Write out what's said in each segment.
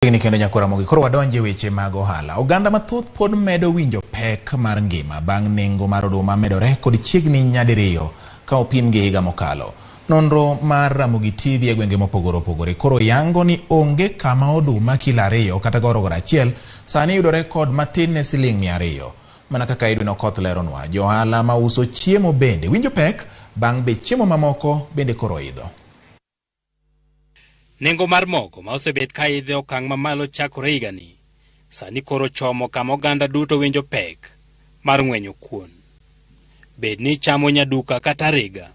Chiegni kendo nyakora mogi. Koro wadonje e weche mag ohala. Oganda mathoth pod medo winjo pek mar ngima bang' nengo mar oduma medore kod chiegni nyadiriyo ka opim gi higa mokalo. Nonro mar Ramogi TV e gwenge mopogore opogore koro yango ni onge kama oduma kilo ariyo kata gorogoro achiel sani yudore kod matin ne siling' mia ariyo. Mana kaka Edwin Okoth leronwa, johala ma uso chiemo bende winjo pek bang' be chiemo mamoko bende koro idho. Nengo mar mogo ma osebet ka idhe okang' mamalo chakore higani, sani koro chomo kama oganda duto winjo pek mar ng'wenyo kuon. Bed ni ichamo nyaduka kata ariga,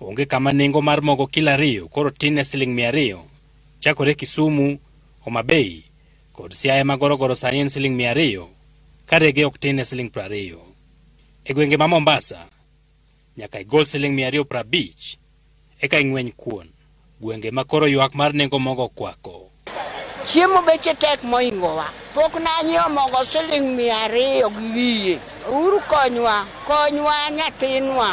onge kama nengo mar mogo kilo ariyo koro tin ne siling' mia ariyo. Chakore Kisumu, Homa Bay kod Siaya ma gorogoro sani en siling' mia ariyo, ka rege ok tin ne siling' prariyo. E gwenge ma Mombasa, Nyaka igol siling' mia ariyo prabich eka ing'weny kuon. Gwenge ma koro ywak mar nengo mogo kwako. Chiemo beche tek moingowa. Pok nanyiewo mogo siling' mia ariyo gi wiye. Uru konywa, konywa nyathinwa.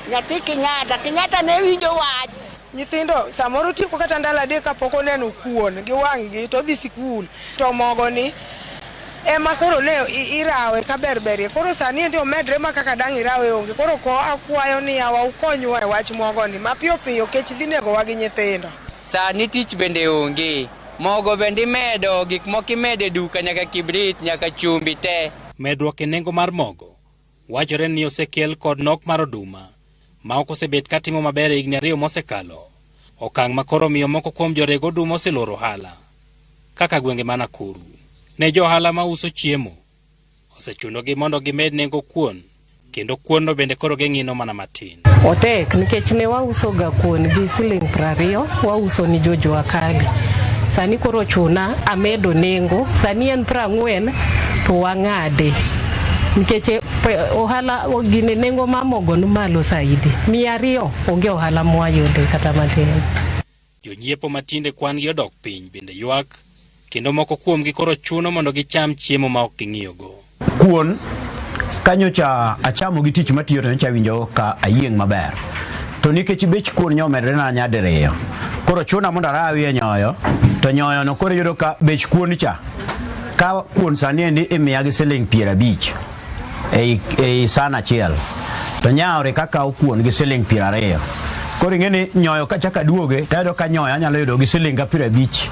Nyathi Kinyata, Kinyata ne winjo wach. Nyithindo samoro tieko kata ndalo adek kapok oneno kuon gi wang'gi to dhi sikul to mogo ni ema koro ne irawe ka berberie koro sani endi omedre ma kaka dang' irawe onge koro ko akwayo ni yawa ukonywa e wach mogo ni mapiyo piyo kech dhi negowa gi nyithindo. Sani tich bende onge mogo bende imedo gik moko imedo e duka nyaka kibrit nyaka chumbi te. Medruok e nengo mar mogo Wachore ni osekel kod nok mar oduma ma ok osebet ka timo maber e higni ariyo mosekalo, okang' ma koro omiyo moko kuom jorego oduma oseloro ohala kaka gwenge ma Nakuru. Ne jo ohala ma uso chiemo, osechunogi mondo gimed nengo kuon kendo kuonno bende koro ging'ino mana matin. Otek nikech ne wausoga kuon gi siling' prariyo wauso ni jojua kali. Sani koro chuna amedo nengo, sani en prang'wen to wang'ade nikech e, pe- ohala o- gine nengo mar mogo ni malo saidi. Mia ariyo onge ohala mwayude kata matin. Jonyiepo ma tinde kwan-gi odok piny bende ywak, kendo moko kuomgi koro chuno mondo gicham chiemo ma ok ging'iyogo. Kuon kanyocha achamo gi tich matiyo to nyocha awinjo ka ayieng' maber to nikech bech kuon nyomedrena nyadiriyo koro chuna mondo arawi e nyoyo to nyoyono koro iyudo ka bech kuon cha ka kuon sani endi imiya gi siling' piero abich ei, ei san achiel to nyawre kaka okuon gi siling piero ariyo koro ing'e ni nyoyo kachaka duoge tayudo ka nyoyo anyalo yudo gi siling ga piero abich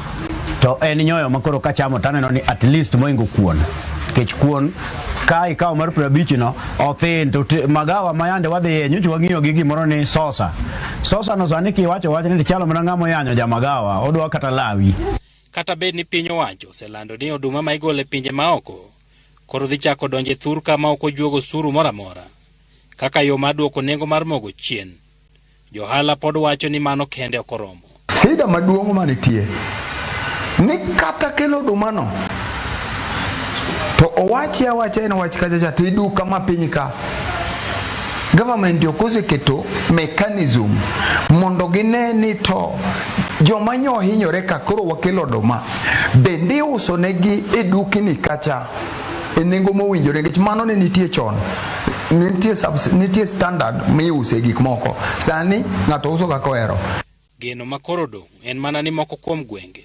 to en nyoyo ma koro kachamo taneno ni at least moingo kuon nikech kuon ka ikawo mar piero abich no othin to te- magawa ma yande wadhiye nyocha wang'iyo gi gimoro ni sosa sosa no sani kiwacho wach ni chalo mana ng'ama oyanyo ja magawa odwa kata lawi Kata bed ni piny owacho oselando ni oduma ma igolo e pinje maoko koro dhi chako donje thurka ma ok ojuogo suru moro amora kaka yo mar duoko nengo mar mogo chien. Johala pod wacho ni mano kende ok oromo. Shida maduong' manitie ni kata kelo odumano to owachi awacha en wach kachacha to iduka ma piny ka government ok oseketo mechanism mondo gine ni to joma nyo hinyore ka koro wakelo oduma Bende iuso negi e dukni kacha e nengo mowinjore nikech mano ne nitie chon nitie, subs, nitie standard miuse gik moko sani ng'ato uso kaka ohero geno ma koro odong' en mana ni moko kuom gwenge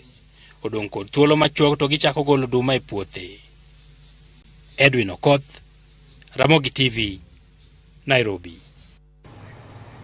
odong' kod thuolo machuok to gichako golo oduma e puothe edwin okoth ramogi tv nairobi